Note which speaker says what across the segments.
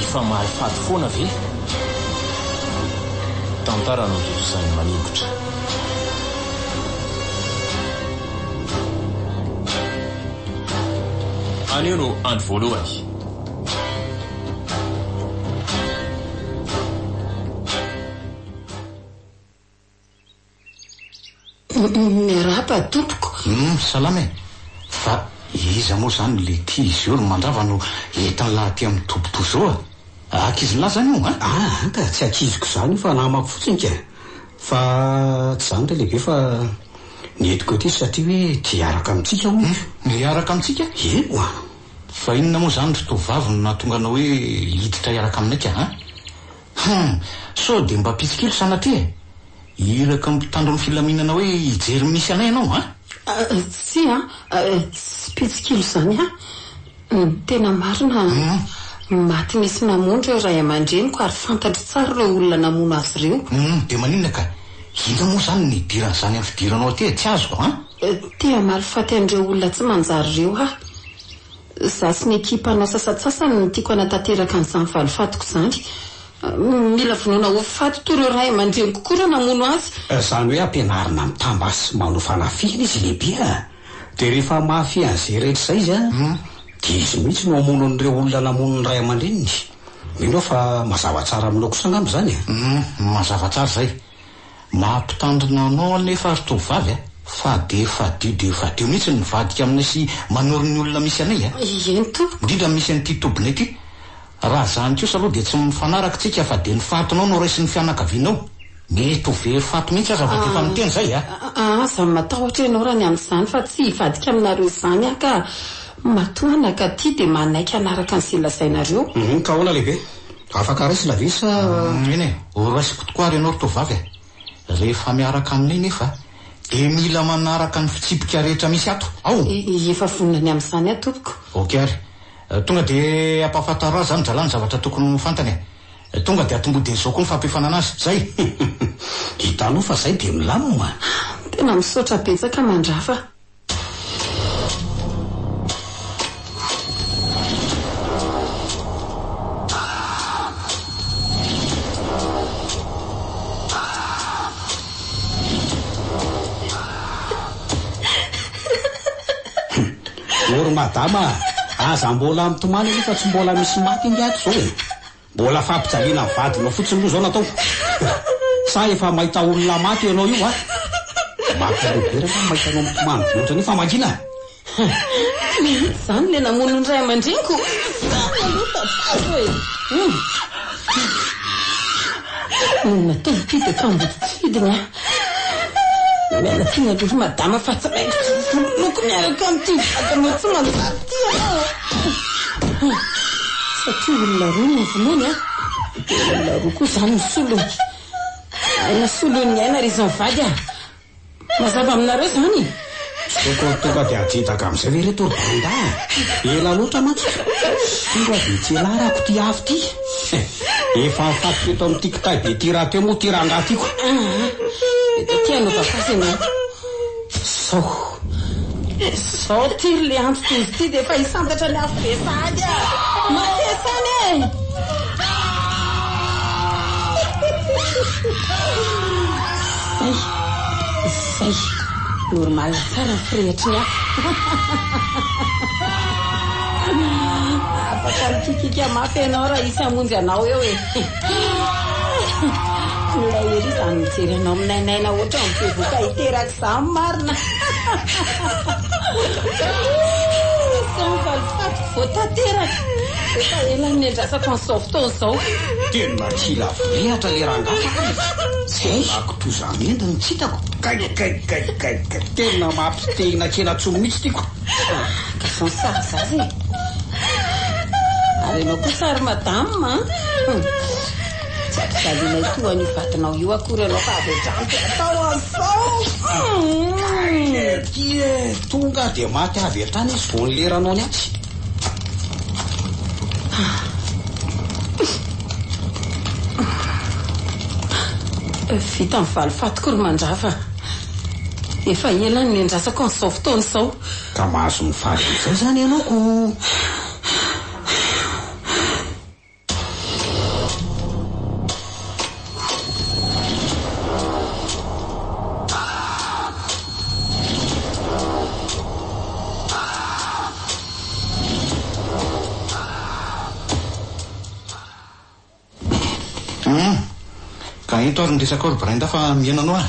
Speaker 1: Efa mahay fady foana ve? Tantara no hirizan'ny maningotra. Anio no andro voalohany.
Speaker 2: Miarahaba tompoko. Humm salama e!
Speaker 3: Fa iza moa zany lety izy io ry mandrava no entin'lah aty amin'ny toby toa zao a! Ankizin'lah zany io an? Ah an ka tsy ankiziko zany
Speaker 4: io fa namako fotsiny ka! Fa tsy zany re lehibe fa ny entiko ety izy satria hoe te hiaraka amintsika hono izy. Humm hiaraka amintsika?
Speaker 3: Eny an!
Speaker 4: Fa inona moa
Speaker 3: zany ry tovovavy no nahatonga anao hoe hiditra hiaraka aminay ka an? Hum! Sao dia mba pitsikilo sanatria e! Iraka mpitandro ny filaminana hoe hijery ny misy anay ianao an! Tsia
Speaker 2: an! Tsy pitsikilo izany an! Tena marina maty nisy namono ireo ray aman-dreniko ary fantatro tsara ireo olona namono azy ireo. Hum! Dia maninona ka!
Speaker 3: Inona moa izany no nidiran'izany amin'ny fidiranao aty e! Tsy azoko an! Te hamaly
Speaker 2: faty an'ireo olona tsy manjary ireo aho! Za sy ny ekipanao sasantsasany no tiako hanatanteraka an'izany valifatiko izany. Mila vonoina ho faty toa ireo ray aman-dreniko koa raha namono azy. Izany hoe ampianarina
Speaker 4: mitambà sy manoa fanafihana izy lehibe a! Dia rehefa mahafehy an'izay rehetra izay izy an! Dia izy mihitsy no hamono an'ireo olona namono ny ray aman-dreniny. Mino aho fa mazava tsara aminao kosa angamba izany e? Humm, mazava tsara
Speaker 3: izay. Maha mpitandrina anao anefa ry tovovavy a! Fa dia fadio dia fadio mihitsy ny mivadika aminay sy manoro ny olona misy anay a! Eny tompoko! Indrindra
Speaker 2: ny misy an'ity tobinay
Speaker 3: ity. Raha zany kosa aloha dia tsy mifanaraka tsika fa dia ny fatinao no raisin'ny fianakavianao. Mety ho very faty mihitsy aza fa dia efa miteny zay a! Aza
Speaker 2: matahotra ianao raha ny amin'izany fa tsy hivadika aminareo izany aho ka! Matoa anakahy ity dia manaiky hanaraka an'izay lazainareo. Humm ka ahoana lehibe?
Speaker 4: Afaka raisina ve sa. Eny e, ho
Speaker 3: raisiko tokoa ary ianao ry tovovavy a! Rehefa miaraka aminay nefa dia mila manaraka ny fitsipika rehetra misy ato. Ao! Efa vonona ny
Speaker 2: amin'izany aho tompoko. Ok ary.
Speaker 3: Tonga dia ampahafantaro azy zany dralahy ny zavatra tokony ho fantany e! Tonga dia atombohidiny izao koa ny fampiofanana azy. Zay!
Speaker 4: Hitanao fa zay dia milamina. Tena misaotra
Speaker 2: betsaka mandrava.
Speaker 4: Ory madama a! Aza mbola mitomany aloha fa tsy mbola misy maty ange ato izao e! Mbola fampijaliana ny vadinao fotsiny aloha zao no atao? Sa efa mahita olona maty eo ianao io va? Mampialeo be raha mahita anao mitomany be ohatran'io famakiana a! Mihitsy izany
Speaker 2: ilay namono ny ray aman-dreniko! Marina aloha fa vazo e! Humm! Ny olona telo ity dia mpandidy tsy fidiny a! Miala tsiny aloha ry madama fa tsy maintsy vonoiko miaraka amin'ity vatanao tsy manjary ity aho satria olona roa no vonoiny a! Dia olona roa koa izany no solony. Aina solon'ny aina ry izy mivady a! Mazava aminareo izany e? Toko tonga
Speaker 4: dia ajidaka amin'izay ve ireto ry Brenda a! Ela loatra mantsy ka! Siro a, dia tsy hialarako ity afo ity! Efa nifatiko eto amin'ity kitay be ity rahateo moa ity rangahy ity ko! Aa!
Speaker 2: Dia tia hanaova fasy ianao ko! Sao. Sao ity ry Lehanjo tojo ity dia efa hisantatra ny afo be sahady a! Matesa any e! Zay! Normal tsara ny firehetry ny hafa. Afaka mikikika mafy ianao raha hisy hamonjy anao eo e. Mila ery izany mijery anao minainaina ohatran'ny bevoka hiteraka izany marina. Sao ny valifatiko vao tanteraka. Efa ela no niandrasako an'izao fotoana izao. Tena tsy
Speaker 4: lavo rehatra le rangahy a! Tsy aiko toa izany. Mendo ny kitako. Gay gay gay gay gay. Tena mampite hinakena tsony mihitsy ity ko. Garçon
Speaker 2: sage zaza e. Ary ianao kosa ry madame a. Tsy ampijalianay toa an'io vadinao io akory ianao fa avy hatrany dia atao an'izao. Gay ity
Speaker 4: e. Tonga dia maty avy hatrany izy vao nileranao ny atsy.
Speaker 2: Vita ny valifatiko ry Mandrava. Efa ela no niandrasako an'izao fotoana izao. Ka mahazo ny
Speaker 4: fady amin'izay izany ianao ko!
Speaker 3: Hum. Ka ento ary ny resaka ao ry Brinda fa mihena anao ah.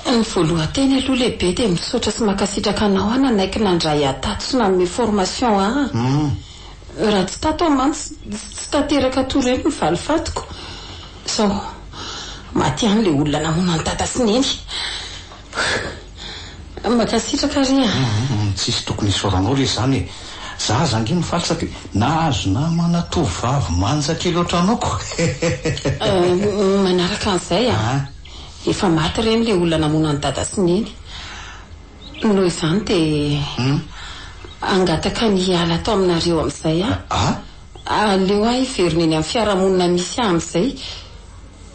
Speaker 3: Ny
Speaker 2: voalohan-teny aloha lehibe dia misaotra sy mankasitraka anao aho nanaiky nandray ahy tato sy nanome formation ahy. Hum. Raha tsy tato aho mantsy tsy tanteraka toa ireny ny valifatiko. Sao maty ihany ilay olona namono an'i Dada sy Neny. Mankasitraka re a. Humm tsisy tokony
Speaker 3: hisaoranao re zany e! Za aza ange mifaly satria nahazo namana tovovavy manja kely otranao ko Humm
Speaker 2: manaraka an'izay a, efa maty ireny le olona namono an'i dada sy neny, noho izany dia hangataka ny hiala ato aminareo amin'izay aho, aleo aho hiverina eny amin'ny fiarahamonina misy ahy amin'izay.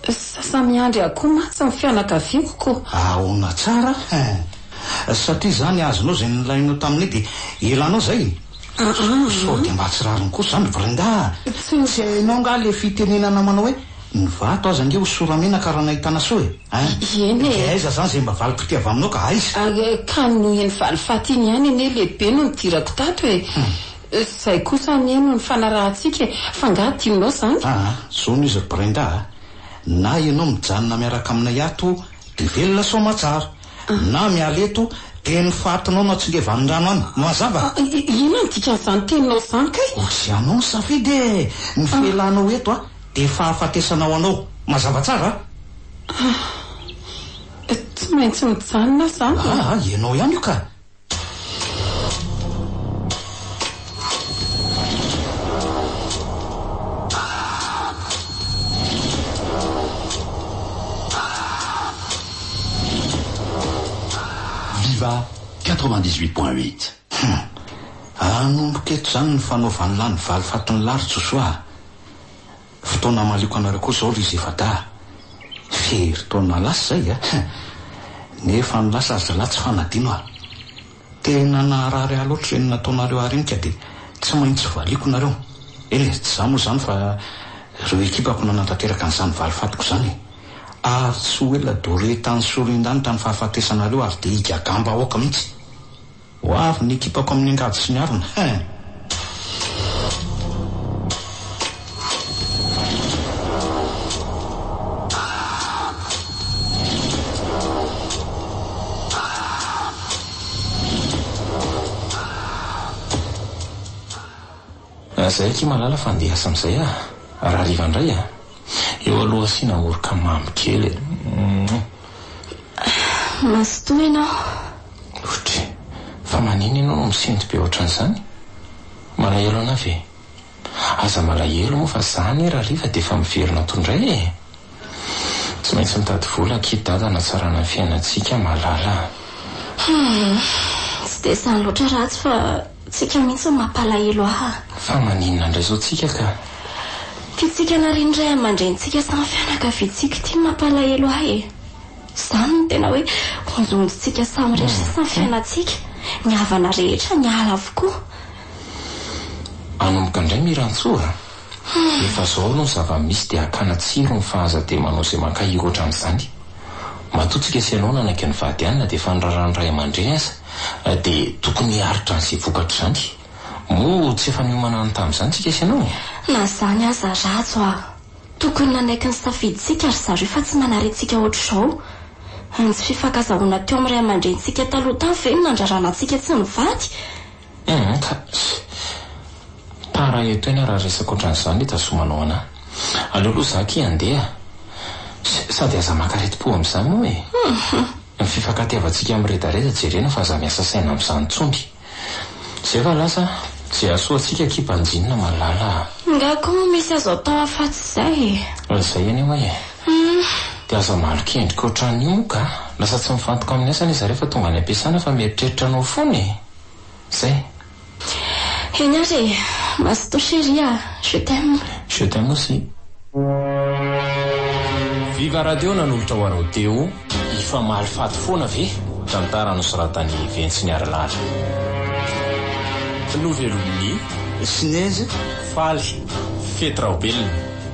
Speaker 2: Sasa miandry ahy koa mantsy ny fianakaviako ko. Aona tsara
Speaker 3: hein. Satria izany azonao izay nilainao taminay dia elanao izay? Sao dia mba tsy rariny kosa izany ry Brenda a! Tsy hainao angaha ilay fitenenana manao hoe ny vato aza ange ho sora-menaka raha nahitana soa e! Hein? Dia
Speaker 2: aiza izany izay mba valim-pitia
Speaker 3: avy aminao ka aiza? Ka noho iny
Speaker 2: valifaty iny ihany anie lehibe no nidirako tato e! Izay kosa anie no nifanarahantsika e! F'angaha tianao izany? Aa, zao no izy ry
Speaker 3: Brenda a! Na ianao mijanona miaraka aminay ato dia velona soamatsara, na miala eto dia ny fatinao no atsingevanin-drano any. Mazava? Inona no
Speaker 2: dikan'izany teninao izany kay? Ozy anao ny safidy
Speaker 3: e! Ny fialanao eto dia fahafatesana ho anao. Mazava tsara? Aa,
Speaker 2: tsy maintsy mijanona aho izany e! Aa, ianao ihany io ka!
Speaker 5: Viva 98 point
Speaker 3: 8 Hum! Hanomboka eto izany ny fanaovan'ny lany valifatin'i Lary Josoa a! Fotoana hamaliako anareo koa izao ry zefadaha. Firy taona lasa izay a! Nefa ny lasa ry zalahy tsy fanadino a! Tena naharary ahy loatra ireny nataonareo ahy ireny ka dia tsy maintsy valiako nareo. Eny e, tsy izaho moa izany fa ireo ekipako nanatanteraka an'izany valifatiko izany e! Ary tsy ho ela doretan'ny soriandanitra ny fahafatesanareo ary dia higagambahoaka mihitsy. Ho avy ny ekipako amin'ny angady sy ny harona hein.
Speaker 1: Raha izay akia malala fa andeha hiasa amin'izay aho a! Raha hariva indray a! Eo aloha asiana oroka mamy kely e! Mouah!
Speaker 6: Mazotoa ianao. Otre!
Speaker 1: Fa manina ianao no misento be ohatran'izany? Malahelo anà ve? Aza malahelo moa fa za anie raha hariva dia efa miverina ato indray e! Tsy maintsy mitady vola akia Dada hanatsarana ny fiainantsika a malala a! Hum!
Speaker 6: Tsy dia izany loatra ratsy fa Tsika mihitsy no mampalahelo ahy. Fa maninona ndray
Speaker 1: zao tsika ka. Pitsika
Speaker 6: narian'ny ray amandrenintsika sy ny fianakaviantsika ity no mampalahelo ahy e! Zany no tena hoe onjohonjontsika samy rery sisa ny fiainantsika, ny havana rehetra niala avokoa.
Speaker 1: Anomboka indray Mirantsoa a! Efa zao aloha ny zava misy dia akana tsiro ny fa aza dia manao izay mankahiry otrany izany. Matoa tsika sy ianao nanaiky nivady any na dia efa niraharahan'ny ray amandreny aza dia tokony hiaritra an'izay vokatr izany. Moa tsy efa niomana any tamin'izany tsika sy ianao e? Na izany aza
Speaker 6: Rhajo ah! Tokony nanaiky ny safidintsika ry zareo fa tsy manarentsika ohatr'izao. Ny tsy fifankazahoana teo amin'ny ray amandrenintsika taloha tany ve no nandrarana antsika tsy nivady? Humm kajy.
Speaker 1: Tara eto eny raha resaka ohatran'izany itazomanao anà. Aleo aloha zà akia handeha a. Sady aza maka aretim-po amin'izany moa e. Ny fifankatiavantsika miredareda jerena fa aza miasa saina amin'izany intsony. Zay va lasa a. Izay hahasoa antsika akia banjinina malala a. Ingahy koa moa misy
Speaker 6: azo atao afatsy izay e. Raha izay anie hoy e.
Speaker 1: Humm. Dia aza malokendrika ohatran'io moa ka. Lasa tsy mifantoka amin'ny asa anie zareo fa tonga any am-piasana fa mieritreritra anao foana e. Zay.
Speaker 6: Eny ary e! Mazotoa chérie a! Je t'aime. Je t'aime aussi.
Speaker 1: Viva radio nanolotra ho anao Téo. Hifamaly faty foana ve? Tantara nosoratan'i Ventsy Niarilala. Novelomin'i. Snezy
Speaker 3: faly.
Speaker 1: Fety Raobelina.